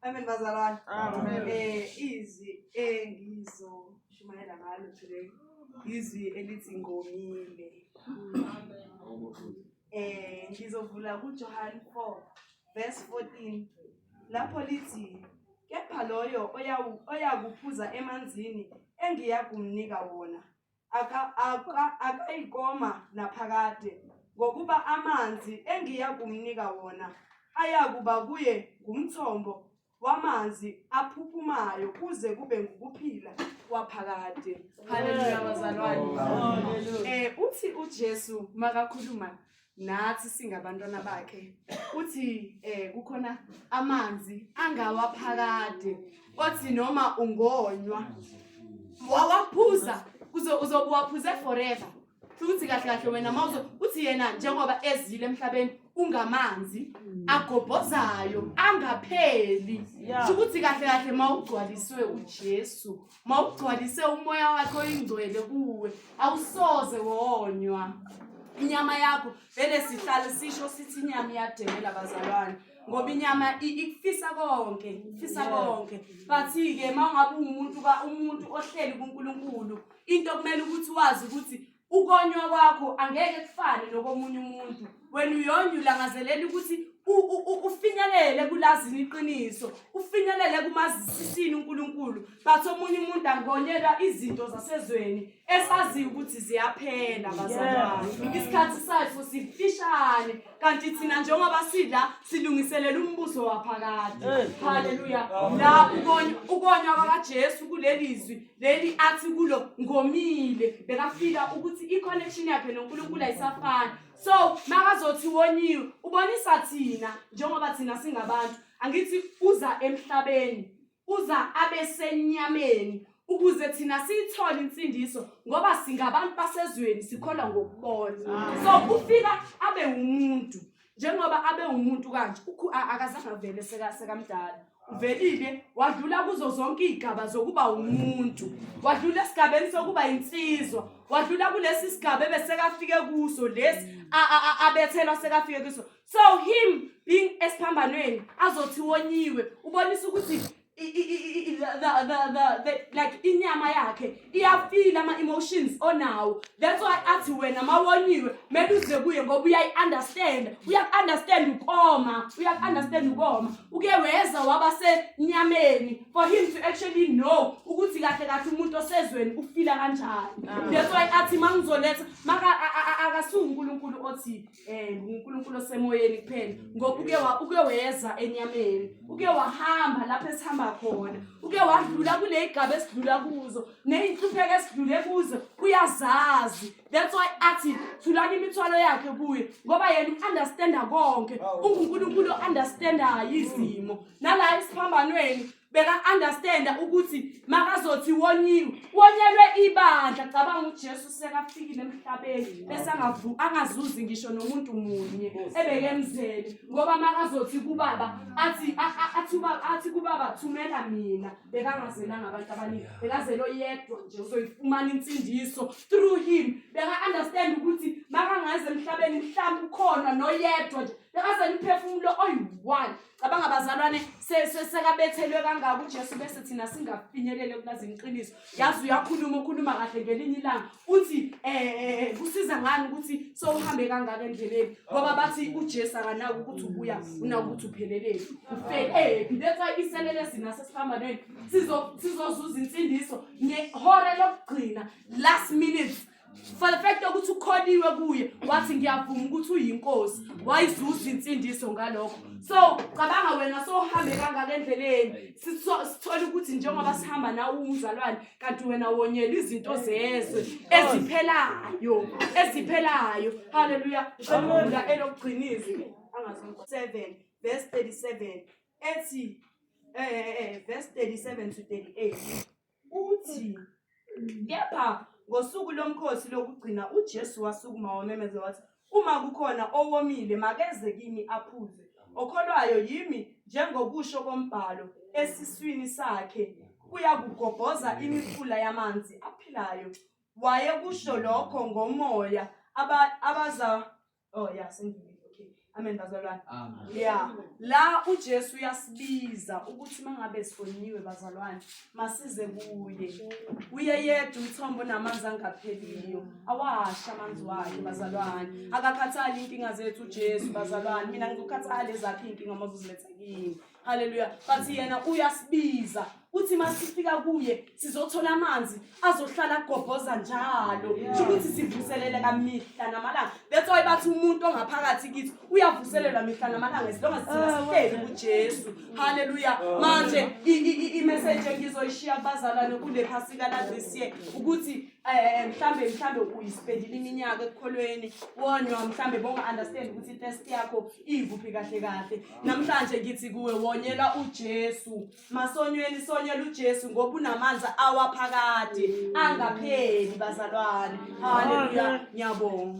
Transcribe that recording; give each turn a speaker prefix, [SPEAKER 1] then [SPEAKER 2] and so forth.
[SPEAKER 1] Amen
[SPEAKER 2] bazalwane. Amen. Eh
[SPEAKER 1] izwi
[SPEAKER 2] engizoshumayela ngalo today. Izwi elithi ngomile. Eh ngizovula kuJohane 4 verse 14 lapho lithi kepha loyo oyakuphuza emanzini engiyakumnika wona akayikoma naphakade, ngokuba amanzi engiya kumnika wona ayakuba kuye ngumthombo wamanzi aphuphumayo kuze kube ngukuphila kwaphakade. Haleluya bazalwane. Eh uthi uJesu makakhuluma nathi singabantwana bakhe uthi eh kukhona amanzi angawaphakade othi noma ungonywa wawaphuza kuze uzobuwaphuze forever futhi kahle kahle wena mawuzo uthi yena njengoba ezile emhlabeni ungamanzi mm. agobhozayo angapheli ukuthi kahle kahle mawugcwaliswe uJesu mawugcwalise umoya wakhe oyingcwele kuwe awusoze wonywa inyama yakho vele sihlale sisho sithi inyama iyademela bazalwane ngoba inyama ikufisa konke ifisa konke but-ke ma ungabe ungumuntu umuntu ohleli kunkulunkulu into kumele ukuthi wazi ukuthi ukonywa kwakho angeke kufane nokomunye umuntu wena uyonye ulangazelela ukuthi ufinyelele kulazini iqiniso ufinyelele kumazisisini uNkulunkulu but omunye umuntu angonyelwa izinto zasezweni esaziyo ukuthi ziyaphela bazalwane isikhathi sayo sifishane kanti thina njengoba sidla silungiselela umbuso waphakade haleluya la ukonywa kwakaJesu kulelizwi leli athi kulo ngomile bekafika ukuthi i-connection yakhe nonkulunkulu ayisafani so makazothi woniwe ubonisa thina njengoba thina singabantu angithi uza emhlabeni uza abesenyameni ukuze thina siyithole insindiso ngoba singabantu basezweni sikholwa ngokubona so kufika abe wumuntu njengoba abe umuntu kanje akasangavele sekamdala uvelile wadlula kuzo zonke iy'gaba zokuba umuntu wadlula esigabeni sokuba yinsizwa wadlula kulesi sigaba ebesekafike kuso lesi abethelwa sekafike kuso so him being esiphambanweni azothi wonyiwe ubonisa ukuthi like inyama yakhe iyafila ama-emotions onawo that's why athi wena ma woniwe mele uze kuye ngoba uyayi-understanda uyaku-understand ukoma uyaku-understand ukoma uke weza waba senyameni for him to actually know ukuthi kahle kahle umuntu osezweni ufila kanjani that's why athi ma ngizoletha maka akasuwunkulunkulu othile eh uNkulunkulu osemoyeni kuphela ngoba uke wa uke weza enyameni uke wahamba lapho esihamba khona uke wadlula kule igaba esidlula kuzo nezinhlupheko esidlule kuzo uyazazi that's why athi thulani imithwalo yakhe kuye ngoba yena uunderstanda konke unguNkulunkulu ounderstandayo izimo nala isiphambanweni beka-understanda ukuthi makazothi wonyiwe wonyelwe ibandla cabanga ujesu sekafikile emhlabeni bese angazuzi ngisho nomuntu munye ebekemzele ngoba makazothi kubaba athi athi kubaba thumela mina bekangazelanga abantu abaningi bekazele oyedwa nje uzoyifumana insindiso through him beka-understand ukuthi makangaze emhlabeni mhlawumbe ukhona noyedwa nje bekazele umphefumulo oyi-one cabanga bazalwane se- se- sekabethelwe kangaka ujesu bese thina singafinyelele kulazini iqiniso yazi uyakhuluma ukhuluma kahle ngelinye ilanga uthi um kusiza ngani ukuthi sowuhambe kangaka endleleni ngoba bathi ujesu akanaki ukuthi ubuya unaki ukuthi upheleleni ufelephi that's why iselele sina sesiphambanweni sizozuza insindiso ngehora lokugcina last minute for the fact yokuthi ukholiwe kuye wathi ngiyavuma ukuthi uyinkosi wayizuza insindiso ngalokho so cabanga wena sohambe kangaka endleleni sithole ukuthi njengoba sihamba nawe umzalwane kanti wena wonyela izinto zezwe eziphelayo eziphelayo haleluya ngiqela elokugcinizwe angazonke 7 verse 37 ethi eh, eh, eh verse 37 to 38 Uthi, kepha ngosuku lomkhosi lokugcina uJesu wasukuma wamemeza wathi, uma kukhona owomile makeze kimi aphuze. Okholwayo yimi njengokusho kombhalo esiswini sakhe kuyakugobhoza imifula yamanzi aphilayo. Wayekusho lokho ngomoya aba- abaza Oh yeah, sengiyile. Okay. Amen bazalwane. Amen. Yeah. La uJesu uyasibiza ukuthi mangabe sifoniwe bazalwane, masize kuye. Uye yedwa umthombo namanzi angapheliyo. Awasha amanzi wakhe bazalwane. Akakhathali inkinga zethu uJesu bazalwane. Mina ngizokhathala ezakhe inkinga mazuziletha kimi. haleluya but yena uyasibiza uthi masifika kuye sizothola amanzi azohlala agobhoza njalo kusho ukuthi sivuselele kamihla namalanga that's why bathi umuntu ongaphakathi kithi uyavuselelwa mihla namalanga as long as thina ah, sihleli kujesu haleluya ah. manje imessage engizoyishiya kubazalwane kule phasika la this year ukuthi um mhlambe mhlambe uyisipendile iminyaka ekukholweni wonywa mhlambe bonga-understand ukuthi itest yakho iyivuphi kahle kahle namhlanje ngithi kuwe wonyela uJesu masonyweni sonyela uJesu ngoba unamanzi awaphakade angapheli bazalwane haleluya ngiyabonga